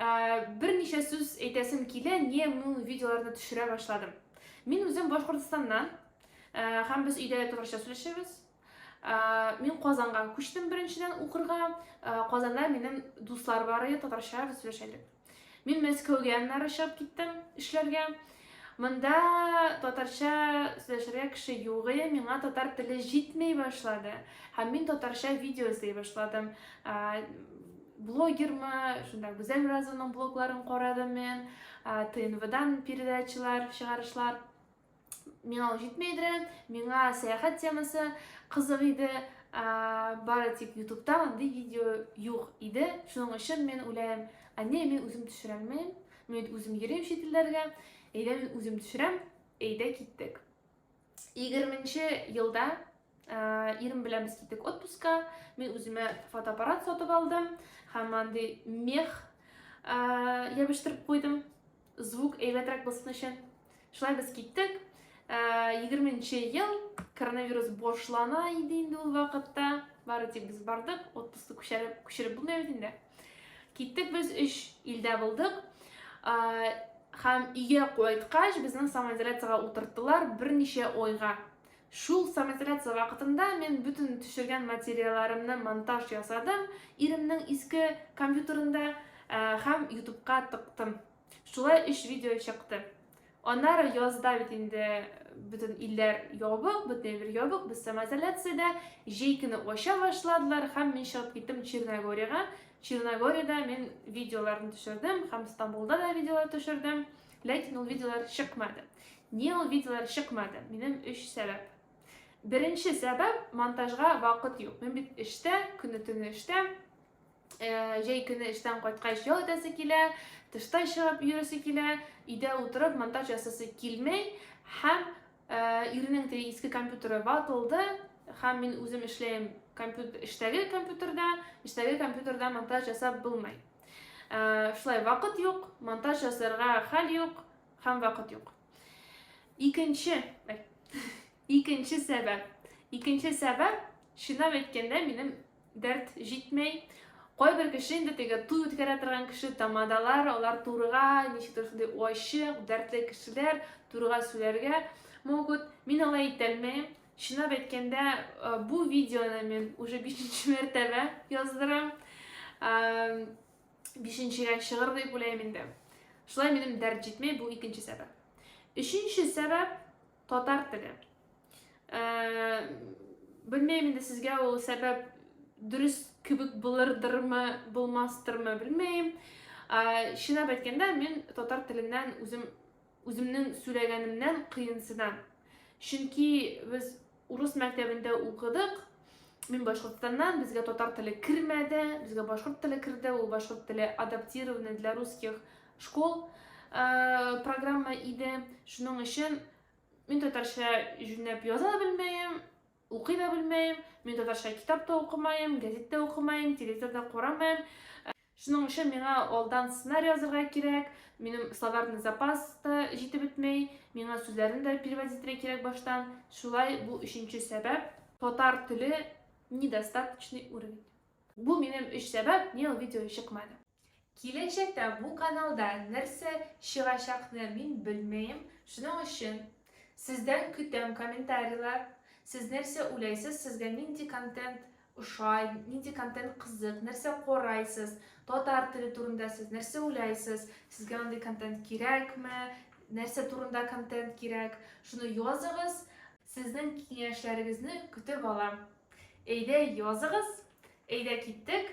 Ә, берничә сүз әйтәсем килә, не мин видеоларны төшерә башладым. Мин үзем Башкортостаннан, ә, һәм без өйдә дә татарча сөйләшәбез. Ә, мин Казанга күчтем беренчедән укырга. Ә, Казанда минем дуслар бар иде, татарча без сөйләшәдек. Мин Мәскәүгә аннары чыгып киттем эшләргә. Ә, Монда татарча сөйләшергә кеше югые, миңа татар теле җитмей башлады. Һәм мин татарча видео эзләй башладым. Блогермы, шунда Гүзәл Разованың блогларын карадым мен, ТНВдан передачалар, чыгарышлар. Миңа ул җитмей иде, миңа сәяхәт темасы кызык иде, бары тик ютубта андый видео юк иде. Шуның өчен мен уйлайм, әне мин үзем төшерәлмим, Мин үзем йөрим чит илләргә, әйдә мин үзем төшерәм, әйдә киттек. 20-нче елда ә, ирем белән без киттек отпуска, мин үземә фотоаппарат сатып алдым һәм андый мех ә, ябыштырып куйдым, звук әйбәтрәк булсын өчен. Шулай без киттек. Егерме нче ел, коронавирус башлана иде инде ул вакытта. Бары тик без бардык, отпуск күчереп, күчереп булмый бит инде. Киттек без өч илдә булдык. Һәм өйгә кайткач, безнең самоизоляциягә утырттылар берничә ойга. Шул самоизоляция вакытында мин бөтен төшергән материалларымны монтаж ясадым, иремнең иске компьютерында һәм ютубка тыктым. Шулай өч видео чыкты. Аннары язда бит инде бөтен илләр ябык, бөтен бер ябык, без самоизоляциядә, җәй көне ача башладылар һәм мин чыгып киттем Черногориягә. Черногориядә мин видеоларны төшердем һәм Стамбулда да видеолар төшердем, ләкин ул видеолар чыкмады. Ни ул видеолар чыкмады? Минем өч сәбәп. Беренче сәбәп монтажга вакыт юк. Мин бит эштә, көне-төне эштә. Э, җәй көне эштән кайткач ял итәсе килә, тышта чыгып йөресе килә, өйдә утырып монтаж ясасы килмей һәм э, ирнең теге иске компьютеры ватылды һәм мин үзем эшләем компьютер, эштәге компьютерда, эштәге компьютерда монтаж ясап булмый. Э, шулай вакыт юк, монтаж ясарга хәл юк һәм вакыт юк. Икенче, икенче сәбәп. Икенче сәбәп, чынлап әйткәндә, минем дәрт җитмәй. Кайбер кеше инде теге туй үткәрә торган кеше, тамадалар, алар турыга, ничектер шундый ачык, дәртле кешеләр турыга сүләргә могут. Мин алай итәлмәем. Чынлап әйткәндә, э, бу видеоны мин уже бишенче мәртәбә яздырам. Э, бишенчегә чыгыр дип уйлыйм инде. Шулай минем дәрт җитмәй, бу икенче сәбәп. Өченче сәбәп, Татар теле. Ә, белмәйм инде сезгә ул сәбәп дөрес кебек булырдырмы, булмастырмы, белмәйм. Ә, чынлап әйткәндә, мин татар теленнән үзем үземнең сөйләгәнемнән кыенсынам. Чөнки без урыс мәктәбендә укыдык, мин башкортстаннан, безгә татар теле кермәде, безгә башкорт теле керде, ул башкорт теле адаптированы для русских Школ программа иде, шуның өчен мин татарча җүнләп яза да белмәем, укый да белмәем, мин татарча китап та укымаем, газет тә укымаем, телевизор да карамаем. Шуның өчен миңа алдан сценарий язырга кирәк, минем словарный запас та җитеп бетмәй, миңа сүзләрне дә переводить итәргә кирәк баштан. Шулай бу өченче сәбәп, татар теле недостаточный уровень. Бу минем өч сәбәп, ни ул видео чыкмады. Киләчәктә бу каналда нәрсә чыгачакны мин белмәем, шуның өчен сездән көтәм комментарийлар, сез нәрсә уйлайсыз, сезгә нинди контент ошай, нинди контент кызык, нәрсә карайсыз, татар теле турында сез нәрсә уйлайсыз, сезгә андый контент кирәкме, нәрсә турында контент кирәк, шуны языгыз. Сезнең киңәшләрегезне көтеп алам. Әйдә языгыз, әйдә киттек!